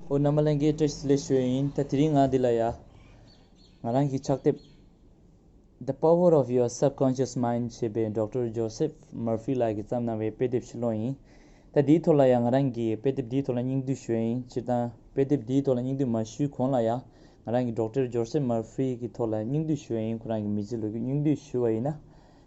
ཨོ་ན་མ་ལན་གའི་སྐྲ་ལས་བྱོལ་ཡིན་ད་དེ་རིང་ང་འདི་ལ་ཡ། ང་རང་གིས་ཕྱག་དེབ། The Power of Your Subconscious Mind ཞེས་པའི་འབྲོག་སྤྲུལ་ཇོ་སེབ་མར་ཕི་ལགས་ཀྱིས་བརྩམས་གནང་བའི་དཔེ་དེབ་ཞིག་ཀློག་ཡིན། ད་དེའི་ཐོག་ལ་ཡང་ང་རང་གིས་དཔེ་དེབ་འདིའི་ཐོག་ལ་སྙིང་བསྡུས་ཞུ་ཡ་ཡིན་སྤྱིར་བཏང་དཔེ་དེབ་འདིའི་ཐོག་ལ་སྙིང་བསྡུས་མ་ཞུས་གོང་ལ་ཡང་ང་རང་གིས་འབྲོག་སྤྲུལ་ཇོ་སེབ་མར་ཕི་ཀྱི་ཐོག་ལ་སྙིང་བསྡུས་ཞུ་ཡ་ཡིན་ཁོ་རང་གི་མི་ཚེའི་ལོ་རྒྱུས་སྙིང་བསྡུས་ཞུ་བ་ཡིན་ན་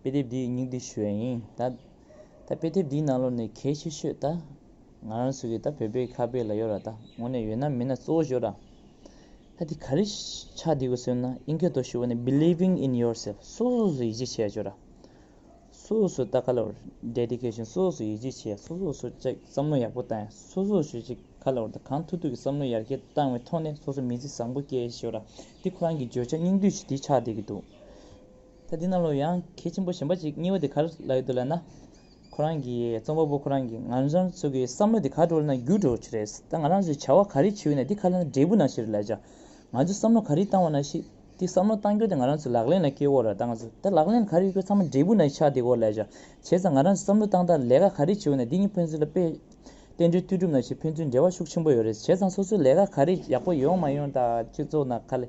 དཔེ་དེབ་འདིའི་སྙིང་བསྡུས་ཞུ་ཡ་ཡིན། ད། ད་དཔེ་དེབ་འདིའི་ནང་ལོ་ནི་གལ་ཆེ་ཤོས་ད། ང་རང་ཚོ་གི་ད་བོད་པའི་ཁ་དཔེ་ལ་ཡོད་ར་ད་ངོ་ནས་ཡོད་ན་མིན་ན་གཙོ་བོ་ཞོ་ར། ད་དེ་ག་རེ་ཆགས་བསྡད་དགོས་ཟེར་ན་དབྱིན་སྐད་ཐོག་ཞུ་བ་ནི Believing in yourself སོ་སོ་སོ་ཡིད་ཆེས་བྱས་ཡ་ཞོ་ར། སོ་སོ་སོ་ད་ག་ལ་བར Dedication སོ་སོ་སོ་ཡིད་ཆེས་བྱས་སོ་སོ་སོ་ཅག་བསམ་བློ་ཡག་པོ་བཏང་ཡ་སོ་སོ་སོ་ཅིག་ག་ལ་བར་ད་གང་ཐུག་ཐུག་གི་བསམ་བློ་ཡར་རྒྱས་བཏང་བའི་ཐོག་ནས་སོ་སོ་མི་ཚེ་བཟང་པོ་སྐྱེལ་ཡ་ཞོ་ར། འདི་ཁོ་རང་གི་བརྗོད་བྱ་སྙིང་བསྡུས་ཀྱི་དེ་ཆགས་བསྡད་ཀྱི་འདུག། ད་འདི་ན་ལོ་ཡང་གལ་ཆེན་པོ་གཞན་པ་ཅིག་རྙེད་པ་དེ་ག་ལ་ཡོད་དུ་ལབ་ན། ཁོ་རང་གི་རྩོམ་པ་པོ་ཁོ་རང་གི་ང་རང་ཚོ་གི་བསམ་བློ་དེ་ག་འགྲོ་ལ་ན་འགྱུར་འགྲོ་ཆེ་རེད། ད་ང་རང་ཚོས་བྱ་བ་ག་རེ་བྱེད་འོས་ན་འདི་ག་ལ་ན་འབྲས་བུ་ན་ཞིག་རེད་ལབ་བྱ། ང་ཚོས་བསམ་བློ་ག་རེ་བཏང་བ་ན་ཞིག་དེ་བསམ་བློ་བཏང་རྒྱུ་དེ་ང་རང་ཚོས་ལག་ལེན་ལ་སྐྱེལ་དགོས་རེད་ད་ང་ཚོས་ད་ལག་ལེན་ལ་ག་རེ་ཡོད་ཚང་མ་འབྲས་བུ་ན་ཆགས་དེ་སྐོར་ལབ་བྱ། བྱས་ཙང་ང་རང་ཚོས་བསམ་བློ་བཏང་དང་ལས་ཀ་ག་རེ་བྱེད་འོས་ན་འདི་གཉིས་ཕན་ཚུན་ལ་དཔེ། བརྟེན་འབྲེལ་མཐུད་གྲུབ་ན་ཞིག་ཕན་ཚུན་འབྲེལ་བ་ཤུགས་ཆེན་པོ་ཡོད་རེད་བྱས་ཙང་སོ་སོའི་ལས་ཀ་ག་རེ་ཡག་པོ་ཡོང་མ་ཡོང་དང་སྤྱི་ཚོགས་ན་ག་ལ།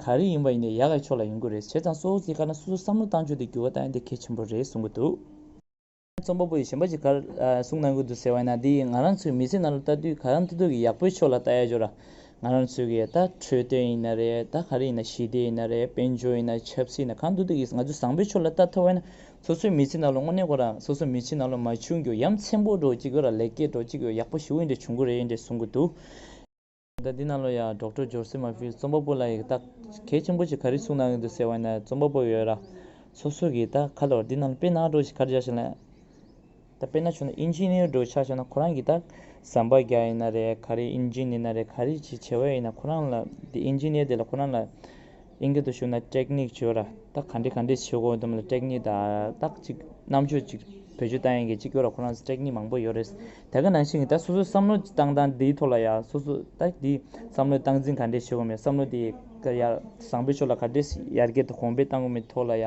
ག་རེ་ཡིན་པ་ཡིན་ནའི་ཡ་ག་ཕྱོགས་ལ་ཡོང་གི་རེད་བྱས་ཙང་སོ་ཚིག་དཀར་ན་སོ་སོར་བསམ་བློ་བཏང་ཆོག་དེ་འགྱུར་བ་བཏང་ཡོད་དེ་གལ་ཆེན་པོ་རེད་གསུང་གི་འདུག། རྩོམ་པ་པོ་ཡིས་གཞན་པ་ཅིག་གར་གསུང་གནང་གི་འདུག་ཟེར་བ་ཡིན་ན་དེ་ཡིས་ང་རང་ཚོའི་མི་ཚེ་ནང་ལ་ལྟ་དུས་ག་རང་ཐུག་ཐུག་གི་ཡག་པོའི་ཕྱོགས་ལ་ལྟ་ཡ་ཆོག་ར། ང་རང་ཚོའི་གི་ད་འཕྲོད་བསྟེན་ཡིན་ན་རེད་ད་ག་རེ་ཡིན་ན་ཞི་བདེ་ཡིན་ན་རེད་དཔལ་འབྱོར་ཡིན་ན་ཆབ་སྲིད་ཡིན་ན་གང་ཐུག་ཐུག་གིས་ང་ཚོས་བཟང་པོའི་ཕྱོགས་ལ་ལྟ་ཐུབ་པ་ཡིན་ན་སོ་སོའི་མི་ཚེ་ནང་ལ་དངོས་གནས་གོ་ར་སོ་སོའི་མི་ཚེ་ནང་ལ་མ་བྱུང་གི་ཡ་མཚན་པོ་འགྲོ་གཅིག་གི་ར་ལེགས་སྐྱེས་འགྲོ་གཅིག་གི་ཡག་པོ་ཞིག་འོན་འགྲེ་བྱུང་གི་རེད་འགྲེ་གསུང་གི་འདུག། ཟླ་འདི་ནང་ལོ་ཡག་གྲོགས་འཕྲོད་སྦྱོར་སེམས་མ་ཕུལ་རྩོམ་པ་པོ་ལ་ཡི་རྟགས་གལ་ཆེན་པོ་ཞིག་ག་རེ་གསུངས་གནང་གི་འདུག་ཟེར་བ་ནས་རྩོམ་པ་པོ་ཡོད་ར་སོ་སོ་གི་ཡི་རྟགས་ཁ་ལོ་འདི་ནང་དཔེ་ནག་འགྲོ་ཞིག་གར་བཞག་ཞིག་ལན། ད་དཔེ་ནག་བྱུང་ན་ཨིན་ཇི་ནི་ཡོར་འགྲོ་ཆགས་བཞག་ན་ཁོ་རང་གི་ཡི་རྟགས་ཟམ་པ་བརྒྱ་ཡིན་ན་རེད་ག་རེ་ཨིན་ཇི་ནི་ན་རེད་ག་རེ་ཅི་བྱེད་འོས་ཡིན་ན་ཁོ་རང་ལ་དེ་ཨིན་ཇི་ནི་ཡོར་དེ་ལ་ཁོ་རང་ལ། གླིང་སྒྲུང་དུ་ཞུགས་ན་སྐྲེག་སྙིགས་བྱོས་ར་ད་ག་འདྲི་ག་འདྲི་བྱེད་དགོས་འདུག་མ་ལ་སྐྲེག་སྙིགས་དང་རྟགས་གཅིག་རྣམ་དཔྱོད་ཅིག་བོད་ཆོས་ལྟ་ཡན་གྱི་སྤྱི་སྐོར་ལ་ཁོ་རང་སྐྲེག་སྙིགས་མང་པོ་ཡོད་རེད་ད་ག་ནང་བཞིན་ད་སོ་སོའི་བསམ་བློ་བཏང་སྟངས་དེའི་ཐོག་ལ་ཡ་སོ་སོ་ད་དེའི་བསམ་བློའི་སྟངས་འཛིན་ག་འདྲི་བྱེད་དགོས་མེད་བསམ་བློ་དེ་ཡ་བཟང་པོའི་ཕྱོགས་ལ་ག་འདྲི་ཡར་རྒྱས་དང་གོང་འཕེལ་བཏང་དགོས་མེད་ཐོག་ལ་ཡ་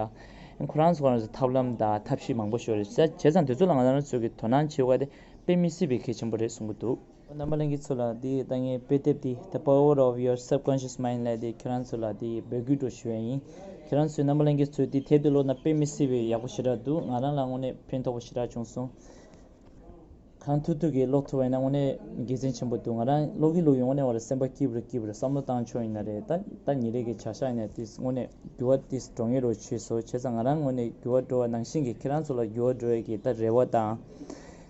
ཁོ་རང་ཚོ་ཁོ་རང་ཚོའི་ཐབས་ལམ་དང་ཐབས་ཤེས་མང་པོ་ཤོར་རེད་བྱས་ཙང་དེ་ཚོ་ལ་ང་རང་ཚོ་གི་དོ་སྣང་བྱེད་དགོས་པ་དེ་དཔེ་མི་སྲིད་པའི་གལ་ཆེན་པོ་རེད་གསུང་གི་འདུག། རྣམ་པ་གླིང་གི་ཚུལ་ལ་དེའི་ལྟ་ངན་དཔེ་དེབ་དེ the power of your subconscious mind ལས་དེ་ཁྱེད་རང་ཚོ་ལ་དེ་འབོད་སྐུལ་འགྲོ་ཞུ་བ་ཡིན། ཁྱེད་རང་ཚོས་རྣམ་པ་གླིང་གི་ཚུལ་དེ་དེབ་དེ་ཀློག་ན་དཔེ་མི་སྲིད་པའི་ཡག་པོ་ཞེ་དྲག་འདུག་ང་རང་ལ་དངོས་གནས་ཕན་ཐོགས་པ་ཞེ་དྲག་བྱུང་སོང། གང་ཐུག་ཐུག་གིས་ཀློག་ཐུབ་པ་ཡིན་ན་དངོས་གནས་དགེ་མཚན་ཆེན་པོ་འདུག་ང་རང་ཀློག་གིན་ཀློག་གིན་དངོས་གནས་བར་ལ་སེམས་པ་སྐྱིད་པོར་སྐྱིད་པོར་བསམ་བློ་བཏང་ཆོག་ཡིན་ན་རེད་ད། ད་ཉིན་རེ་གི་བྱ་བཞག་ཡིན་ན་དེས་དངོས་གནས་འགྱུར་བ་དེས་འགྲོ་ངེས་རོ་ཆོས་སོ་བྱས་ཙང་ང་རང་དངོས་གནས་འགྱུར་བ་འགྲོ་བ་ནང་བཞིན་གྱི་ཁྱེད་རང་ཚོ་ལ་འགྱུར་བ་འགྲོ་ཡག་གི་ད་རེ་བ་དང།